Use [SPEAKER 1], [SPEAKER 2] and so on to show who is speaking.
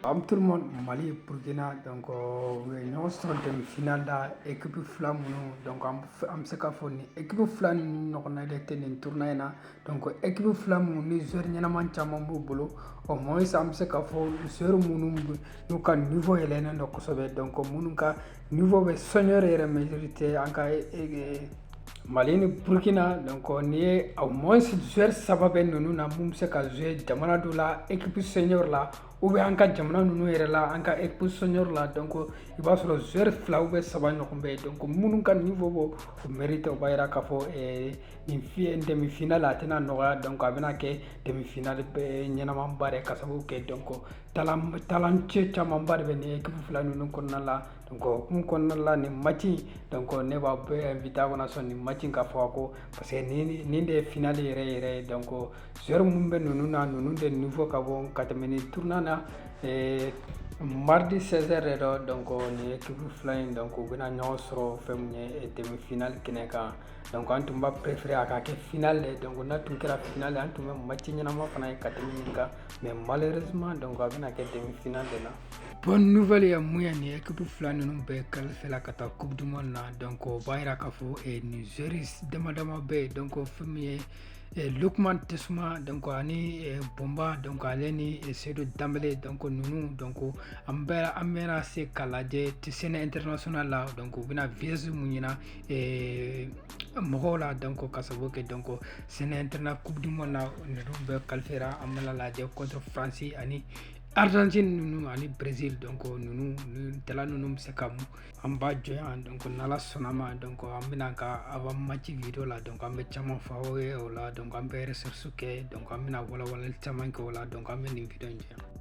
[SPEAKER 1] Am tout le monde Mali Burkina donc euh, u ye ɲɔgɔn sɔrɔ demi final la équipe fila minnu donc an f- an bɛ se k'a fɔ nin équipe fila ninnu ɲɔgɔnna de tɛ nin tournoi in na donc équipe fila minnu ni joueur ɲɛnaman caman b'u bolo au moins an bɛ se k'a fɔ joueur minnu b- n'u ka niveau yɛlɛnnen don kosɛbɛ donc minnu ka niveau bɛ senior yɛrɛ mérite an ka e- e- mali ni burkina donc n'i ye au moins joueur saba bɛ ninnu na min bɛ se ka jouer jamana dɔ la équipe senior la ou bien an ka jamana ninnu yɛrɛ la an ka équipe senior la donc i b'a sɔrɔ joueur fila ou bien saba ɲɔgɔn bɛ yen donc minnu ka niveau b'o mérite o b'a jira k'a fɔ nin fi- nin demi final a tɛna nɔgɔya donc a bɛna kɛ demi final ɲɛnamanba de ye ka sababu kɛ donc talancɛ camanba de bɛ nin équipe fila ninnu kɔnɔna la o hukumu kɔnɔna la nin match donc ne b'aw bɛɛ invité aw kana sɔn nin match ka fɔ aw kɔ parce que nin de ye final yɛrɛ yɛrɛ ye donc Joueur minnu bɛ ninnu na ninnu de niveau ka bon ka tɛmɛ nin tournoi na mardi seize heures don donc nin équipe fila in donc u bɛna ɲɔgɔn sɔrɔ fɛn min ye demi final kɛnɛ kan donc an tun b'a préféré a ka kɛ final de donc n'a tun kɛra final an tun bɛ match ɲɛnama fana ye ka tɛmɛ nin kan mais malheureusement donc a bɛna kɛ demi final de la bonne nouvelle ye mun ye nin équipe fila ninnu bɛɛ qualifiéla ka taa coupe du monde na donc o b'a jira k'a fɔ nin joueur dama dama bɛ yen donc fɛn min ye e lukman tesuma donc ani e Bomba donc ale ni e Seydou Dembélé donc ninnu donc an bɛɛ an bɛna se k'u lajɛ scène international la donc u bɛna vise mun jira e mɔgɔw la donc ka sababu kɛ donc scène international coupe du monde la ninnu bɛɛ qualifiéra an bɛna lajɛ contre france ani argentine ninnu ani brésil donc ninnu nin talent ninnu bɛ se ka mun an b'a jɔ yan donc n'ala sɔnna ma donc an bɛna ka avant match vidéo la donc an bɛ caman fɔ aw ye o la donc an bɛ recherche kɛ donc an bɛna walawalali caman kɛ o la donc an bɛ nin vidéo in jɔ yan